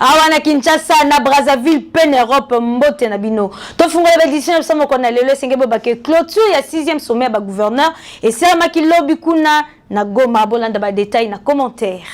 awa na kinshasa na brazzaville mpe na europe mbote na bino tofungola baedition ya biso moko na lelo esenge bobake clôture ya 6e sommet ya bagouverneur esalamaki lobi kuna na goma bolanda badetail na commentaire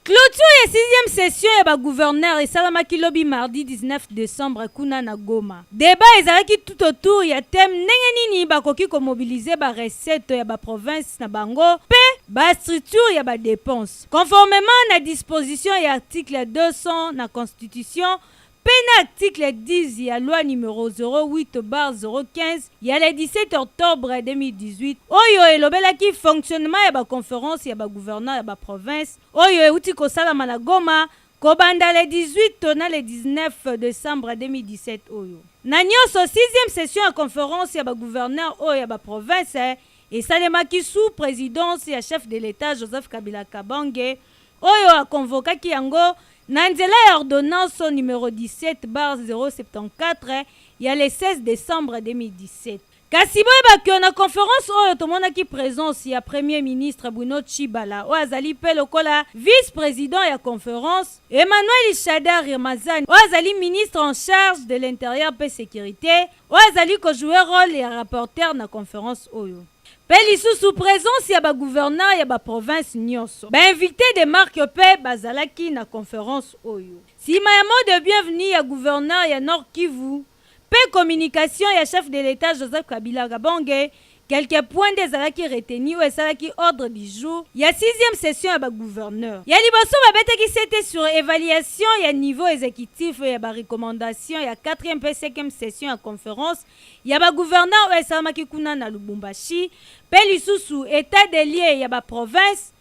clôture ya 6e session ya bagouverneur esalamaki lobi mardi 19 décembre kuna na goma Debat ezalaki tout au tour ya thème ndenge nini bakoki ko mobiliser ba recettes ya ba provinces na bango mpe ba structures ya ba depenses conformement na disposition ya article 200 na Constitution mpe na article 10 ya loi numero 08/015 ya le 17 octobre 2018 oyo elobelaki fonctionnement ya ba conferences ya ba gouverneurs ya ba provinces oyo euti kosalama na Goma Kobanda le 18 to na le 19 decembre 2017 oyo, na nionso, sixième session ya conference ya ba gouverneurs oyo ya ba provinces esalemaki sous presidence ya chef de l'Etat Joseph Kabila Kabange oyo a convokaki yango na nzela ya ordonnance numero 17 bar 074 ya le 16 decembre 2017. Kasi boyeba que na conference oyo tomonaki presence ya Premier ministre Bruno Tshibala oyo azali mpe lokola vice-president ya conference, Emmanuel Shadary Ramazani oyo azali ministre en charge de l'interieur mpe securite oyo azali ko jouer role ya rapporteur na conference oyo, mpe lisusu presence ya ba gouverneurs ya ba provinces nionso. Ba invites de marque mpe bazalaki na conference oyo. Sima ya mot de bienvenue ya gouverneur ya Nord-Kivu, Mpe communication ya chef de l'Etat Joseph Kabila Kabonge, quelques points nde ezalaki retenus oyo esalaki ordre du jour ya sixième session ya ba gouverneurs. Ya liboso, babetaki sete sur evaluation ya niveau executif ya ba recommandations ya quatrième mpe cinquième session ya conference ya ba gouverneurs oyo esalamaki kuna na Lubumbashi, mpe lisusu etat des lieux ya ba provinces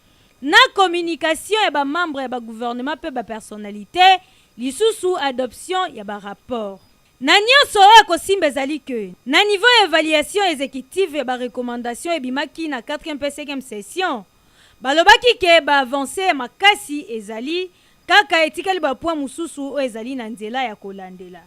na communication ya ba membres ya ba gouvernements mpe ba personnalites. Lisusu adoption ya ba rapports na nionso oyo ekosimba ezali que na niveau ya evaluation executive ya ba recommandations ebimaki na quatrième mpe cinquième session, balobaki que ba avances ya makasi ezali, kaka etikali ba points mosusu oyo ezali na nzela ya kolandela.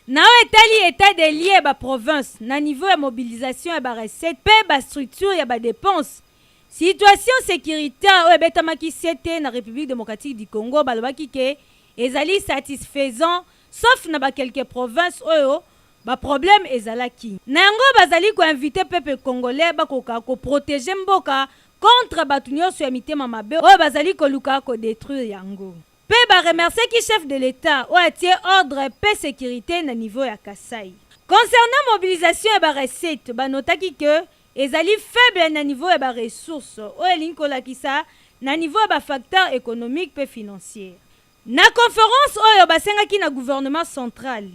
Na oyo etali etat des lieux ya ba provinces na niveau ya mobilisation ya ba recettes mpe ba structures ya ba depenses, situation securitaire oyo ebetamaki sete na Republique democratique du Congo balobaki que ezali satisfaisant sauf na ba quelques provinces oyo ba problèmes ezalaki. Na yango bazali ko inviter peuple congolais bakoka ko proteger mboka contre batu nionso ya mitema mabe oyo bazali koluka ko detruire yango. Mpe ba remerciaki Chef de l'Etat oyo atie ordre mpe securite na niveau ya Kasaï. Concernant mobilisation ya ba recettes, ba notaki que ezali faible na niveau ya ba ressources, oyo elingi kolakisa na niveau ya ba facteurs economiques mpe financiers. Na conference oyo basengaki na gouvernement central,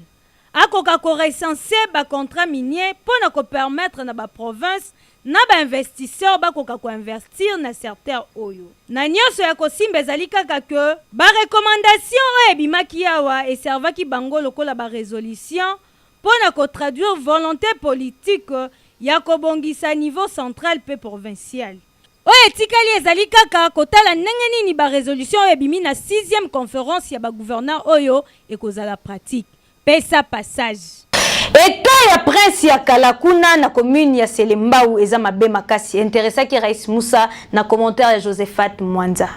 Akoka ko recenser ba contrats miniers mpo na ko permettre na ba provinces na ba investisseurs bakoka ko investir na serteur oyo. Na nionso ya kosimba ezali kaka que ba recommandations oyo ebimaki awa e servaki bango lokola ba resolutions mpo na ko traduire volonte politique ya kobongisa niveau central mpe provincial. Oyo etikali ezali kaka kotala ndenge nini ba resolutions oyo ebimi na sixième conference ya ba gouverneurs oyo ekozala pratique. Pesa passage. Etat ya prince ya kala kuna na commune ya selembao eza mabe makasi interessaki rais musa na commentaire ya josephat mwanza.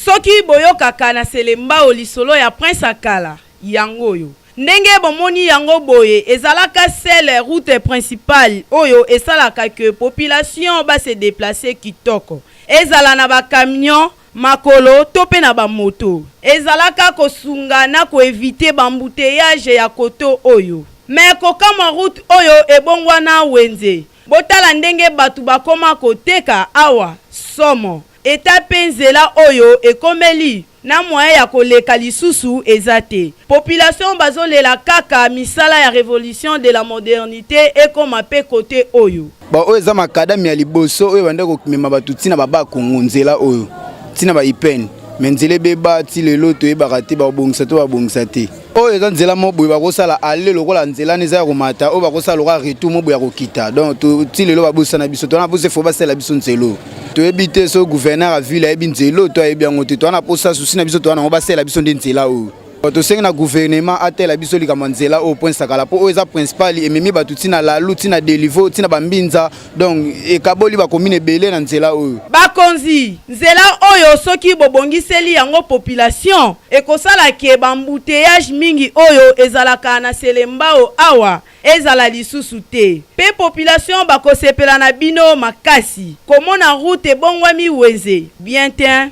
soki boyokaka na selembao lisolo ya prince akala yango oyo Ndenge bomoni yango boye ezalaka seul route principale oyo esalaka que population ba se deplacer kitoko. Ezala na ba camions, makolo to pe na ba moto. Ezalaka kosunga na ko eviter b'embouteillages ya koto oyo. Mais kokamwa route oyo ebongwana wenze. Botala ndenge batu bakoma koteka awa. Somo. Etape nzela oyo ekomeli na moyen ya ko leka lisusu eza te. Population bazo lela kaka misala ya revolution de la modernite ekoma pe cote oyo. Bon oyo eza macadam ya liboso oyo ebandaki komema bato ti na ba bas congo nzela oyo ti na ba ipn mais nzela ebeba ti lelo toyebaka te bakobongisa to babongisa te. oyo eza nzela moko boye bakosala ale lokola nzela eza ya komata oyo bakosala lokola retour moko boye ya kokita donc ti lelo babusa na biso tona posa efo basala biso nzelo toyebi te so gouverneur ya ville ayebi nzelo to ayebi yango te toana posa susi na biso toana yango basala biso nde nzela oyo tosengi na gouvernement atela biso likambo ya nzela oyo poinsakala mpo oyo eza principal ememi bato ntina lalu ntina delivo ntina bambinza donc ekaboli bakomine ebele na nzela oyo bakonzi nzela oyo soki bobongiseli yango population ekosala ke bambouteyage mingi oyo ezalaka na selembao awa ezala lisusu te pe population bakosepela na bino makasi komona route ebongwami wenze bien tein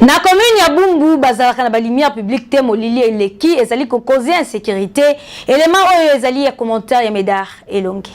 na commune ya bumbu bazalaka na balumière publique te molili eleki ezali kokoze insécurité élément oyo ezali ya commentaire ya médard elongi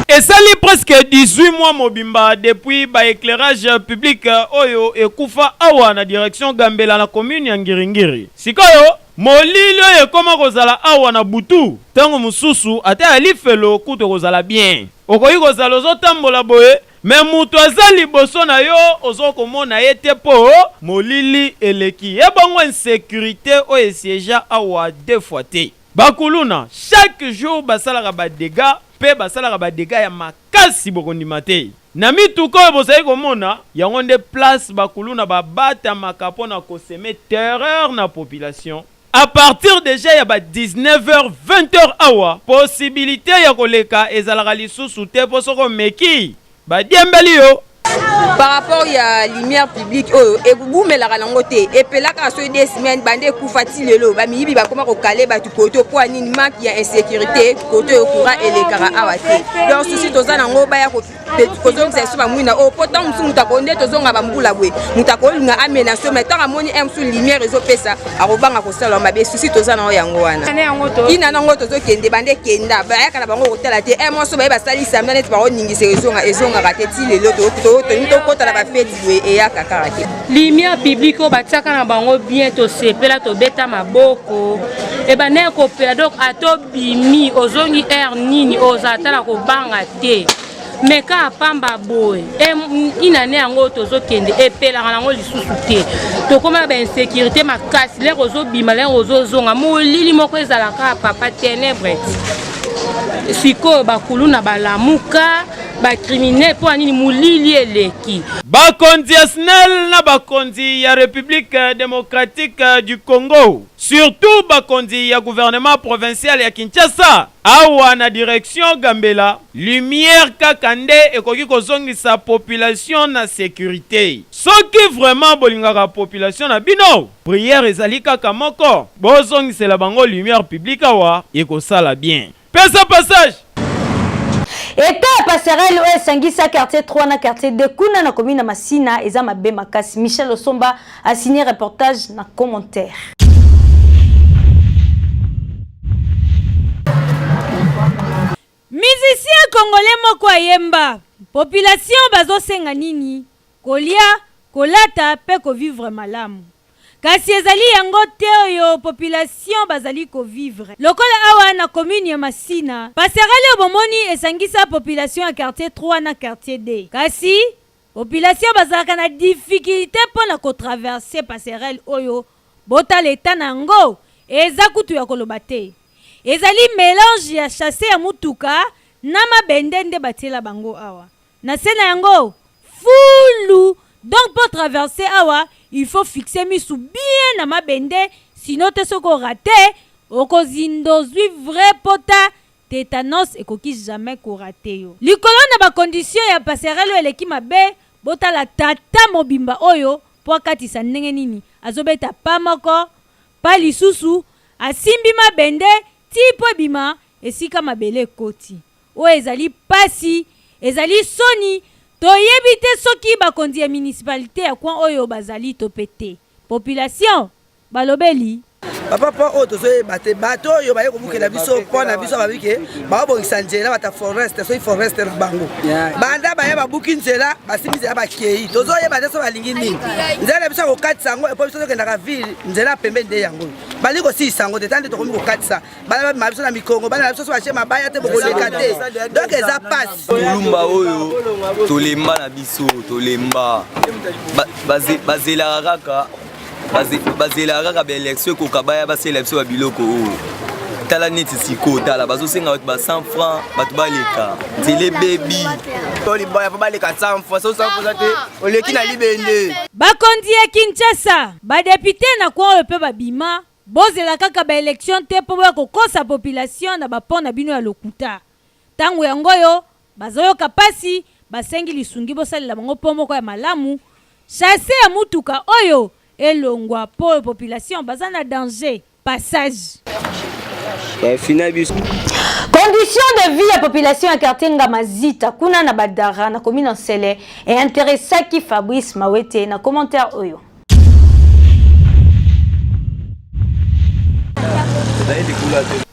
esali presque 18 mois mobimba depuis baéclairage public oyo ekufa awa na direction gambela na commune ya ngiringiri sikoyo Molili oyo ekoma kozala awa na butu, tango mosusu ata ya lifelo kutu ekozala bien. Okoki kozala ozo tambola boye mais mutu aza liboso na yo ozo komona ye te po molili eleki ye bongo insecurite oyo e siegea awa deux fois te. Ba kuluna chaque jour basalaka ba degats pe basalaka ba degats ya makasi bokondima te. Na mituka oyo bozali komona, yango nde place ba kuluna ba batamaka mpo na ko semer terreur na population. A partir dejà ya ba 19 heures, 20 heures awa, possibilite ya koleka ezalaka lisusu te mpo soki omeki, ba diembeli yo. Par rapport ya lumière publicitaire. public oyo ekugumelaka nango te epelaka soki de semaine bande ekufa ti lelo bamiyibi bakoma kokale bato koto mpo ya nini maki ya insécurité koto yo courant elekaka awa te donc susi toza nango baya kozongisa biso bamwina oyo oh, mpo ntango mosusu moto akoki nde tozonga bambula boye moto akolinga amenase mai ntango amoni m mosusu lumière ezopesa akobanga kosala mabe susi toza na yo yango wana ina nango tozokende bande kenda bayaka na bango kotala te e moso baye basali samedi neti bakoningisa ezonga ezongaka te ti lelo toni tokota na bafeti boye eyaka kaka te limia publike oyo batiaka na bango bien tosepela tobeta maboko ebanda ya kopela donc ata obimi ozongi heure nini oza ata na kobanga te me kaka pamba boye inane yango tozokende epelaka nango lisusu te tokóma na bainsécurité makasi lere ozobima lere ozozonga molili moko ezalaka papa ténèbre sikoyo bakuluna balamuka bakriminele mpo na nini molili eleki bakonzi ya snel na bakonzi ya république démocratique du congo surtout bakonzi ya gouvernement provincial ya kinshasa Awa na direction Gambela, lumière kaka nde ekoki kozongisa population na securite. Soki vraiment bolingaka population na bino, prière ezali kaka moko, bozongisela bango lumière publique awa ekosala bien. Pesa passage! Etat ya passerelle oyo esangisa quartier trois na quartier deux kuna na commune ya Masina eza mabe makasi. Michel Osomba A signer reportage na commentaire. Musicien congolais moko ayemba population bazosenga nini? Kolia, kolata pe ko vivre malamu. kasi ezali yango te oyo population bazali kovivre lokola awa na commune ya masina paserale oyo bomoni esangisa population ya quartier 3 na quartier d kasi Population bazalaka na difficulte pona ko traverser passerelle oyo botala etat na yango eza kutu ya koloba te ezali melange ya chasser ya mutuka na mabende nde batiela bango awa na se na yango fulu donc po traverser awa il faut fixer misu bien na mabende sinon te soki o rater okozinda ozui vrai pota Tetanos ekoki jamais ko rater yo. Likolo na ba conditions ya passerelle oyo eleki mabe, botala tata mobimba oyo po akatisa ndenge nini azo beta pas moko, pas lisusu, asimbi mabende tii po ebima esika mabele ekoti. Oyo ezali pasi, ezali soni, toyebi te soki bakonzi ya municipalite ya coin oyo bazali to pe te. Population balobeli. Papa mpo oyo tozoyeba te bato oyo baye kobukela biso mpo na biso babi ke baobongisa nzela bata foreste soki foreste na bango banda baye babuki nzela basimbi nzela bakei tozoyeba te so balingi nini nzela na biso ya kokatisa yango epo biso tokendaka ville nzela pembe nde yango balingi kosilisa yango te ta nde tokomi kokatisa bana babima biso na mikongo bana na biso so batie mabaya te bokoleka te donk eza pasi tolumba oyo tolemba na biso tolemba bazelaka kaka bazelaka kaka baelektio ekoka baya basela biso ya biloko oyo tala neti sikoyo tala bazosenga bato ba 100 franc bato baleka nzela ebebi to libaya mpo baleka 100 franc so 100 franc te oleki na libende bakonzi ya kinshasa badepute na kwoyo mpe babima Bozela kaka ba elections te po boya kokosa population na ba pont na bino ya lokuta. Tango yango oyo, bazoyoka pasi, basengi lisungi bosalela bango pont moko ya malamu, chasser ya mutuka oyo elongwa po population baza na danger. Passage. Eh, fina biso. Condition de vie ya population ya quartier Ngama Zita kuna na Badara na commune Nsele e interessaki Fabrice Mawete na commentaire oyo.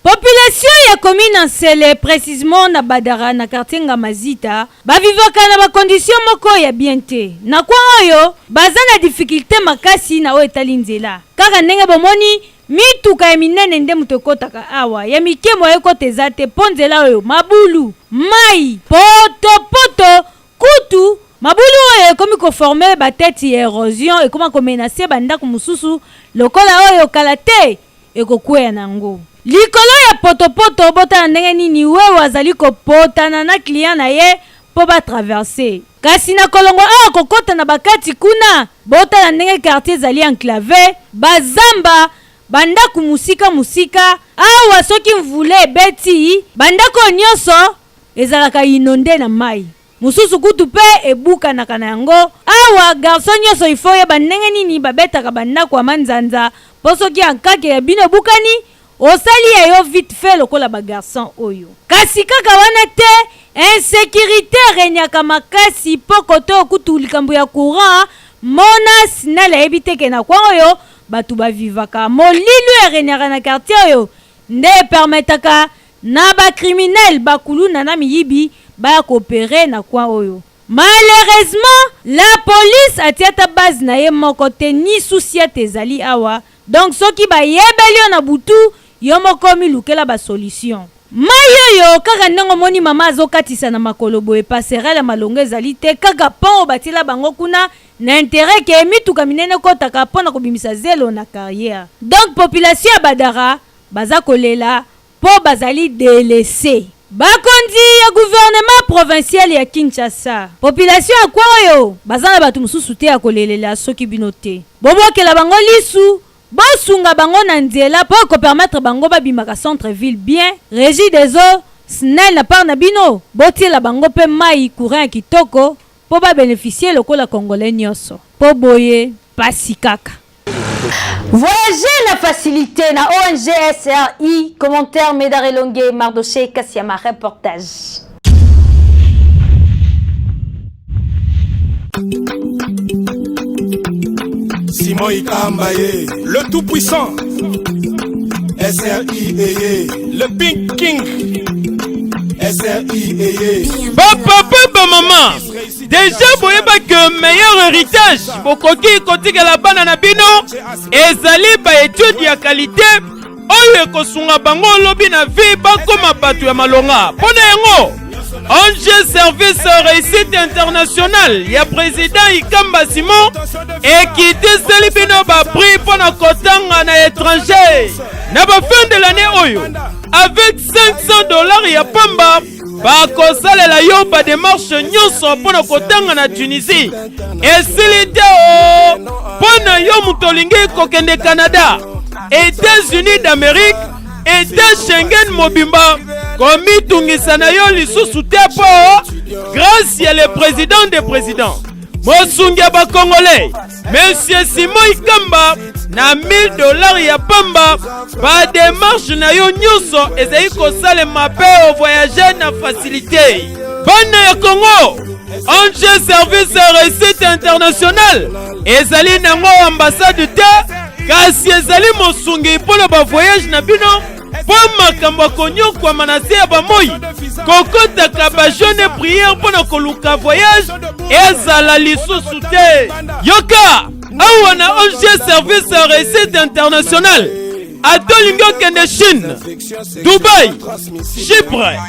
population ya commune nsele précisement na badara na quartier ngamazita bavivaka na bakondition moko ya bien te na kwa oyo baza na difikilte makasi na oyo etali nzela kaka ndenge bomoni mituka ya minene nde moto ekotaka awa ya mike moye ekota eza te mpo nzela oyo mabulu mai potopoto poto. Kutu, mabulu oyo ekomi ko former ba tetes ya erosion ekoma ko menacer ba ndaku mosusu lokola oyo kala te ekokweya na yango. Likolo ya potopoto, botala ndenge nini Wewe azali ko potana na client na ye mpo ba traverser. Kasi na kolongwa awa kokota na ba kati kuna, botala ndenge quartier ezali enclave, ba zamba, ba ndaku mosika mosika. Awa soki mvula ebeti, ba ndaku oyo nionso Ezalaka inonde na mayi. Mususu kutu pe ebukanaka na yango. Awa garçon nioso il faut oyeba ndenge nini babetaka ba ndaku ya manzanza po soki ankake ya bino ebukani osali ya yo vite fait lokola ba garçon oyo. Kasi kaka wana te, insecurite eregnaka makasi po cote oyo kutu likambo ya courant, mona, snel ayebi te ke na coin oyo batu ba vivaka. Molilou eregnaka na quartier oyo nde e permettaka Na ba criminels, ba kuluna na miyibi baya ko operer na coin oyo. Malheureusement, la police atie ata base na ye moko te ni souci ete ezali awa, donc soki ba yebeli yo na butu, yo moko omi lukela ba solution. Mayi oyo kaka ndenge omoni mama azo katisa na makolo boye passerelle ya malonga ezali te, kaka pont oyo batiela bango kuna na interet que mituka minene ekotaka pona kobimisa zelo na carriere. Donc population ya Badara baza kolela mpo bazali delaisser. Bakonzi ya gouvernement provincial ya Kinshasa, population ya coin oyo baza na batu mosusu te ya kolelela soki bino te bobwakela bango lisu, bosunga bango na nzela mpo eko permettre bango babimaka centre ville bien, regie des eaux, snel na part na bino botiela bango mpe mayi, courant ya kitoko mpo ba beneficier lokola congolais nionso mpo boye pasi kaka. Voyager na facilité na ONG SRI, commentaire Médard Elongue, Mardoché Kassiama, reportage. Simon Ikamba ye Le tout puissant SRI eye Le Pink King SRI eye Papa papa maman deja boyeba ke meilleur héritage bokoki kotikela bana na bino ezali baetude ya kalite oyo ekosunga bango lobi na vie bakoma bato ya malonga mpo na yango ong service réussite international ya président ikamba simon ekitiseli bino baprix mpo na kotanga na étranger na bafin de l'année oyo avec 500 dollars ya pamba bakosalela yo bademarshe nyonso mpo na kotanga na tunisie esili te o mpo na yo moto olingi kokende canada etats-unis d'amérique eta schengen mobimba komitungisa na yo lisusu te mpo grâce ya le président de président mosungi ya bakongolais Monsieur Simon Ikamba na 1000 dollars ya pamba ba démarche na yo nyonso ezali kosalema mpe ovoyage na facilité bana ya Congo Ange Service Recette International ezali nango ambassade te kasi ezali mosungi mpo na ba voyage na bino mpo makambo ya konyokwama na se ya bamoi kokotaka bajone priere mpo na koluka voyage ezala lisusu te yoka awa na ong service ya recette internationale ata olingi okende chine dubai chypre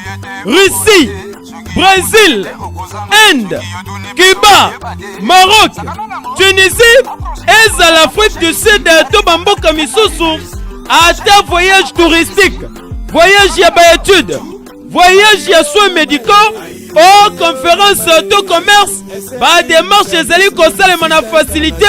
russie Brésil, Inde, Cuba, Maroc, Tunisie ezala Afrique du Sud to bamboka misusu ata voyage touristique, voyage ya baetude, voyage ya soins médicaux o conference to commerce bademarche ezali kosalema na fasilite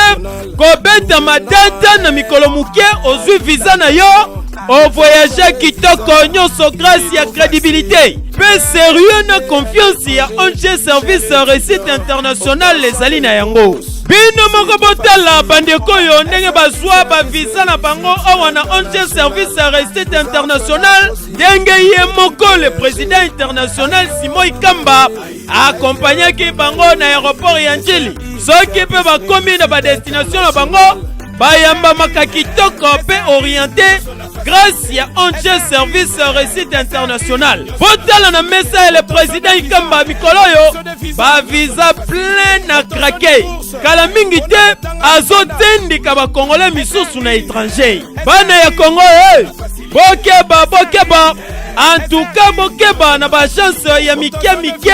kobeta matata na mikolo moke ozwi viza na yo ovoyage kitoko nyonso grâce ya credibilité mpe serieux na confiance ya ong service réussite internationale ezali na yango bino moko botala bandeko oyo ndenge bazwa baviza na bango awa na ong service ya réussite internationale ndenge ye moko le président international simoi kamba akompanyaki bango na aeroport ya njili soki mpe bakomi na badestination na bango bayambamaka kitoko mpe oriente grâce ya onge service réussite international botala na mesa ya le président ikamba mikolo oyo bavisa plein na krake kala mingi te azotindika bakongole misusu na étranger bana ya kongo e bokeba bokeba antuka bokeba na baagence ya mike mike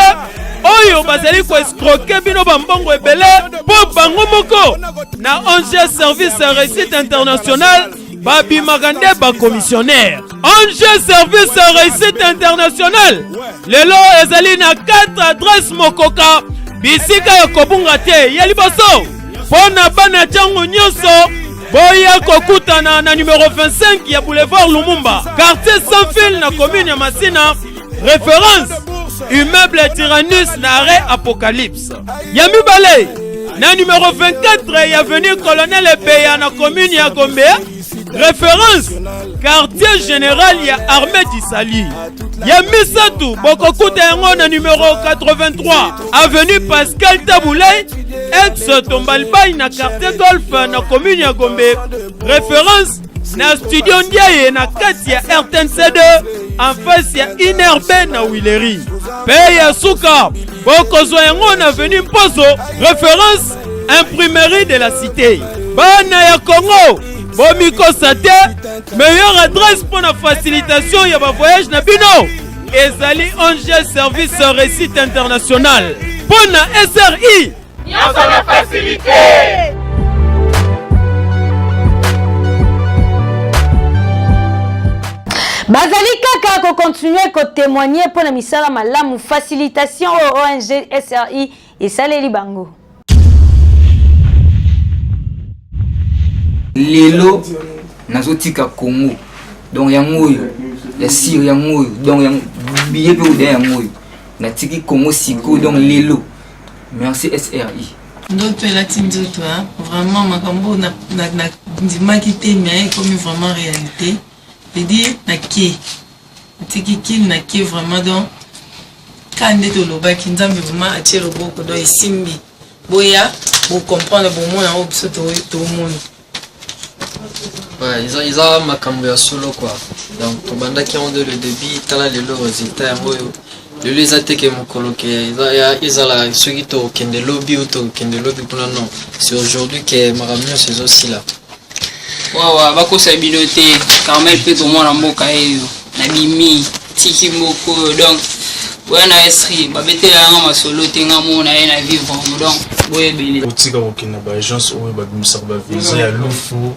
oyo bazali koescroke bino bambongo ebele mpo bango moko na ong service ya réussite internationale babimaka nde bakomissionnaire ong service ya réussite internationale lelo ezali na 4 adresse mokoka bisika ya kobunga te ya liboso mpo na bana ntango nyonso boya kokutana na numero 25 ya boulevard lumumba quartier sanfil na commune ya masina référence immeuble tyrannus na arrêt apocalypse ya mibale na numero 24 ya avenue colonel ebeya na commune ya gombe reference quartier général ya armée d'isali ya misato bokokuta yango na numero 83 avenue pascal tabulay ex tombalbay na quartier golf na commune ya gombe reference na studio ndiaye na kati ya rtnc2 en face ya inerbe na wileri mpe ya suka bokozwa yango na veni mposo reference imprimerie de la cité bana ya congo bomikosa te meilleure adresse mpo na facilitation ya bavoyage na bino ezali ong service réussite international mpo na sri nyonso na facilité bazali kaka kocontinue kotemoigne mpo na misala malamu facilitation oyo ong sri esaleli bango lelo nazotika congo donc yango oyo ya sire yango oyo donc yango biye mpe oda yango oyo natiki congo sikoyo donc lelo merci sri ndoto elati nzoto vraiment makambo nandimaki te mais ekomi vraiment réalité je dis nake natiki kin nake vraiment donc ka nde tolobaki nzambe vraiment atie loboko donc esimbi boya bocomprendre bomona yango biso tomoni Ouais, eza, eza makambo ya solo quoi donc tobandaki yango de le début tala lelo résultat yango oyo lelo eza te ke mokolo ke ezala soki tokende lobi ou tokende lobi kuna non c'est aujourd'hui ke makambo nyonso ezosila wawa bakosa bino te carmel mpe tomwana mboka eyo na bimi tiki moko oyo donc boya na estri babetela yanga masolo te nga mona ye na vivre donc boyebele otika kokende na baagence oyo babimisaka bavisa ya lufu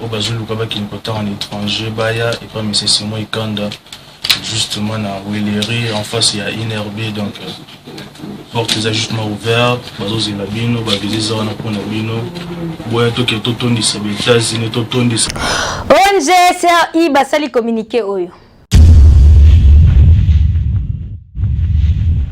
oyo bazo luka bakende kotanga na etranger baya epa monsieur Simon Ikanda justement na Huilerie en face ya INRB donc porte eza justement ouverte bazozela bino baviza eza wana mpo na bino boya toke totondisa ba etats-unis totondisa ong cri basali communiqué oyo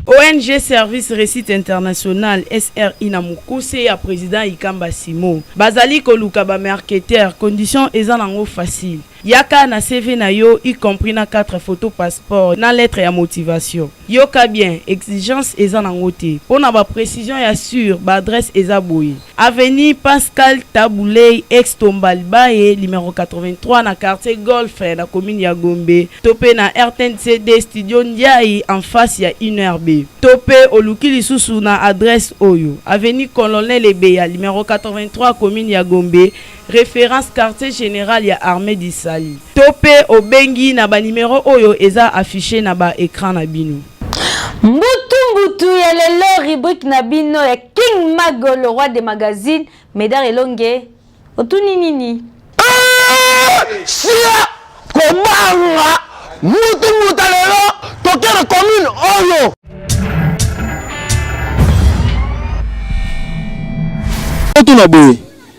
ONG Service Réussite International SRI na mokuse ya président Ikamba Simo bazali koluka ba marketeurs condition eza nango facile yaka na CV na yo y compris na 4 photos passeport na lettre ya motivation Yoka bien, exigence eza nango te. Pona ba precisions ya sur, ba adresses eza boye, Avenue Pascal Tabu Ley, ex Tomba Libaye, numero 83, na quartier Golf, na commune ya Gombe, to pe na rtnc-d, studio Ndiaye, en face ya UNRB. To pe oluki lisusu na adresse oyo, Avenue Colonel Ebeya, numero 83, commune ya Gombe, reference quartier general ya armee du salut to pe obengi na ba numero oyo eza affiche na ba ecran na bino. Mbutu mbutu ya lelo rubrique na bino ya King Mago le roi des magazines Medard Elonge otuni nini? Sia kobanga mutu muta lelo toke na commune oyo. Totuna boye,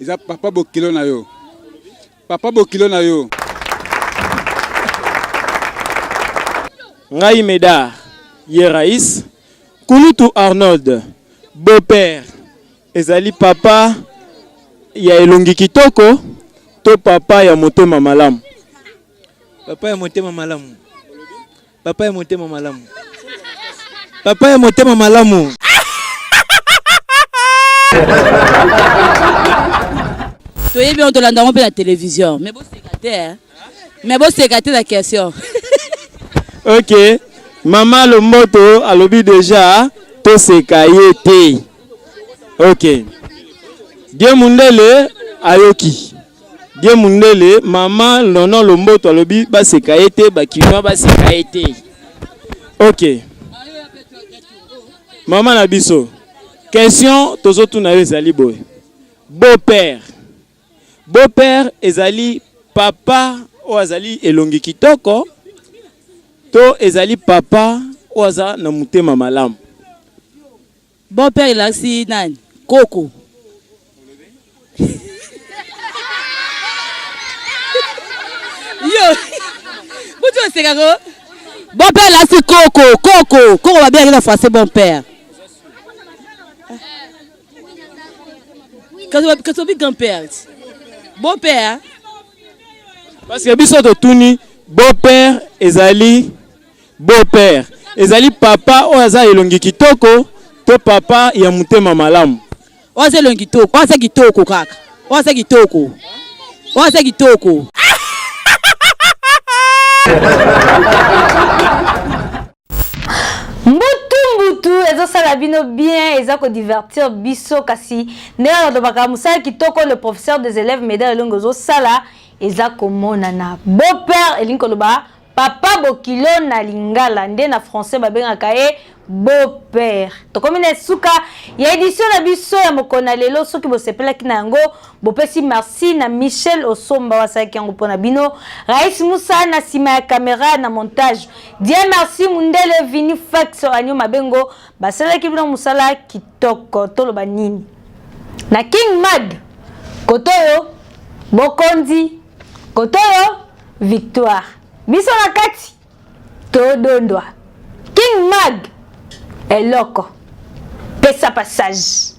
Eza papa bokilo na yo. Papa bokilo na yo. Ngai Meda Yerais Kulutu Arnold beau-père ezali papa ya elongi kitoko to papa ya motema malamu. Papa ya motema malamu. Papa ya motema malamu. Papa ya motema malamu. toyebi yango tolanda yango mpe na télévision mais boseka te eh. mais boseka te na question ok mama lomboto alobi deja toseka ye te ok die mundele ayoki Die Mundele, mama Nono Lomboto alobi baseka ye te, bakinois baseka ye te. Ok. Mama na biso, question tozotuna yo ezali boye. Beau-père. Beau-père ezali papa oyo azali elongi kitoko to ezali papa oyo aza na motema malamu? Bon père elakisi nani? Koko. Yo. Butu oseka ko. Bon père elakisi koko, koko. Koko ba bien na français bon père. Kaso kaso bi grand père. Bon père. Parce que biso totuni bon père ezali Beau père ezali papa oyo aza elongi kitoko to papa ya motema malamu? Oyo aza elongi kitoko, oyo aza kitoko kaka, oyo aza kitoko, oyo aza kitoko. ezosala bino bien eza divertir biso kasi ndenge nalobaka mosala kitoko le professeur des élèves meda elongo ezosala eza komonana beau père elingi koloba Papa bokilo na lingala nde na français babengaka ye beau-père tokomi na esuka ya édition na biso ya mokolo na lelo soki bosepelaki na yango bopesi merci na michel osomba wasalaki yango mpo na bino rais musa na nsima ya kamera na montage die merci mundele vini fax anio mabengo basalaki bino mosala kitoko toloba nini na king mad koto oyo bokonzi kotoyo victoire biso na kati todondwa king mag eloko pesa passage